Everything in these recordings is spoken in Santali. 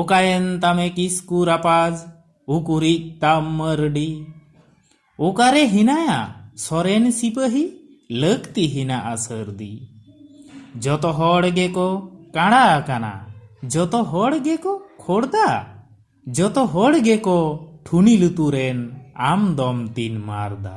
ᱚᱠᱟᱭᱮᱱ ᱛᱟᱢᱮ ᱠᱤᱥᱠᱩ ᱨᱟᱯᱟᱡᱽ ᱩᱠᱩᱨᱤᱡ ᱛᱟᱢ ᱢᱟᱹᱨᱰᱤ? ᱚᱠᱟᱨᱮ ᱦᱮᱱᱟᱭᱟ ᱥᱚᱨᱮᱱ ᱥᱤᱯᱟᱹᱦᱤ ᱞᱟᱹᱠᱛᱤ ᱦᱮᱱᱟᱜᱼᱟ ᱥᱟᱹᱨᱫᱤ? ᱡᱚᱛᱚ ᱦᱚᱲ ᱜᱮᱠᱚ ᱠᱟᱬᱟ ᱟᱠᱟᱱᱟ ᱡᱚᱛᱚ ᱦᱚᱲ ᱜᱮᱠᱚ ᱠᱷᱚᱲᱫᱟ ᱡᱚᱛᱚ ᱦᱚᱲ ᱜᱮᱠᱚ ᱴᱷᱩᱱᱤ ᱞᱩᱛᱩᱨᱮᱱ ᱟᱢ ᱫᱚᱢ ᱛᱤᱱ ᱢᱟᱨᱫᱟ᱾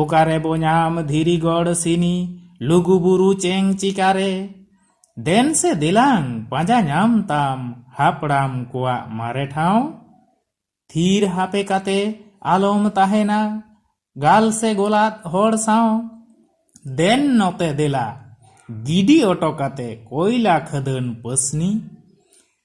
ᱚᱠᱟᱨᱮ ᱵᱚ ᱧᱟᱢ ᱫᱷᱤᱨᱤ ᱜᱚᱲ ᱥᱤᱱᱤ ᱞᱩᱜᱩ ᱵᱩᱨᱩ ᱪᱮᱝ ᱪᱤᱠᱟᱨᱮ ᱫᱮᱱ ᱥᱮ ᱫᱮᱞᱟᱝ ᱯᱟᱸᱡᱟ ᱧᱟᱢ ᱛᱟᱢ ᱦᱟᱯᱲᱟᱢ ᱠᱚᱣᱟᱜ ᱢᱟᱨᱮ ᱴᱷᱟᱶ ᱛᱷᱤᱨ ᱦᱟᱯᱮ ᱠᱟᱛᱮ ᱟᱞᱚᱢ ᱛᱟᱦᱮᱱᱟ ᱜᱟᱞ ᱥᱮ ᱜᱚᱞᱟᱫ ᱦᱚᱲ ᱥᱟᱶ ᱫᱮᱱ ᱱᱚᱛᱮ ᱫᱮᱞᱟ ᱜᱤᱰᱤ ᱚᱴᱚ ᱠᱟᱛᱮ ᱠᱚᱭᱞᱟ ᱠᱷᱟᱹᱫᱟᱹᱱ ᱯᱟᱹᱥᱱᱤ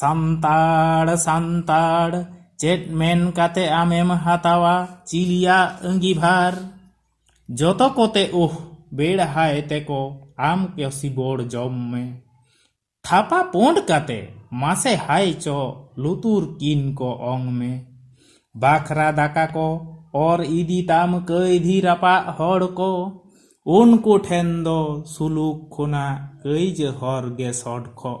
ᱥᱟᱱᱛᱟᱲ ᱥᱟᱱᱛᱟᱲ ᱪᱮᱫ ᱢᱮᱱ ᱠᱟᱛᱮ ᱟᱢᱮᱢ ᱦᱟᱛᱟᱣᱟ ᱪᱤᱞᱤᱭᱟᱜ ᱟᱺᱜᱤᱵᱷᱟᱨ ᱡᱚᱛᱚ ᱠᱚᱛᱮ ᱳᱦ ᱵᱮᱲᱦᱟᱭ ᱛᱮᱠᱚ ᱟᱢ ᱠᱚ ᱥᱤᱵᱚᱲ ᱡᱚᱢ ᱢᱮ ᱛᱷᱟᱯᱟ ᱯᱳᱸᱰ ᱠᱟᱛᱮ ᱢᱟᱥᱮ ᱦᱟᱭ ᱪᱚ ᱞᱩᱛᱩᱨ ᱠᱤᱱ ᱠᱚ ᱚᱝ ᱢᱮ ᱵᱟᱠᱷᱨᱟ ᱫᱟᱠᱟ ᱠᱚ ᱚᱨ ᱤᱫᱤ ᱛᱟᱢ ᱠᱟᱹᱭᱫᱷᱤ ᱨᱟᱯᱟᱜ ᱦᱚᱲ ᱠᱚ ᱩᱱᱠᱩ ᱴᱷᱮᱱ ᱫᱚ ᱥᱩᱞᱩᱠ ᱠᱷᱚᱱᱟᱜ ᱠᱟᱹᱭᱡᱟᱹ ᱦᱚᱨ ᱜᱮ ᱥᱚᱰᱠᱷᱚᱜ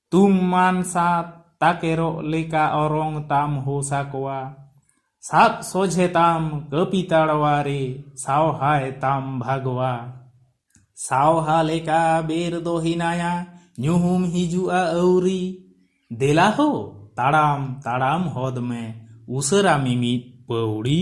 ᱛᱩᱢ ᱢᱟᱱ ᱥᱟᱛ ᱛᱟᱠᱮᱨᱚᱜ ᱞᱮᱠᱟ ᱚᱨᱚᱝ ᱛᱟᱢ ᱦᱳ ᱥᱟᱠᱣᱟ᱾ ᱥᱟᱵ ᱥᱚᱡᱷᱮ ᱛᱟᱢ ᱠᱟᱹᱯᱤ ᱛᱟᱲᱣᱟ ᱨᱮ ᱥᱟᱣᱦᱟᱭ ᱛᱟᱢ ᱵᱷᱟᱜᱽᱣᱟ᱾ ᱥᱟᱣᱦᱟ ᱞᱮᱠᱟ ᱵᱮᱨ ᱫᱚ ᱦᱮᱱᱟᱭᱟ ᱧᱩᱦᱩᱢ ᱦᱤᱡᱩᱜᱼᱟ ᱟᱹᱣᱨᱤ᱾ ᱫᱮᱞᱟ ᱦᱳ ᱛᱟᱲᱟᱢ ᱛᱟᱲᱟᱢ ᱦᱚᱫᱽ ᱢᱮ ᱩᱥᱟᱹᱨᱟ ᱢᱤᱢᱤᱫ ᱯᱟᱹᱣᱲᱤ᱾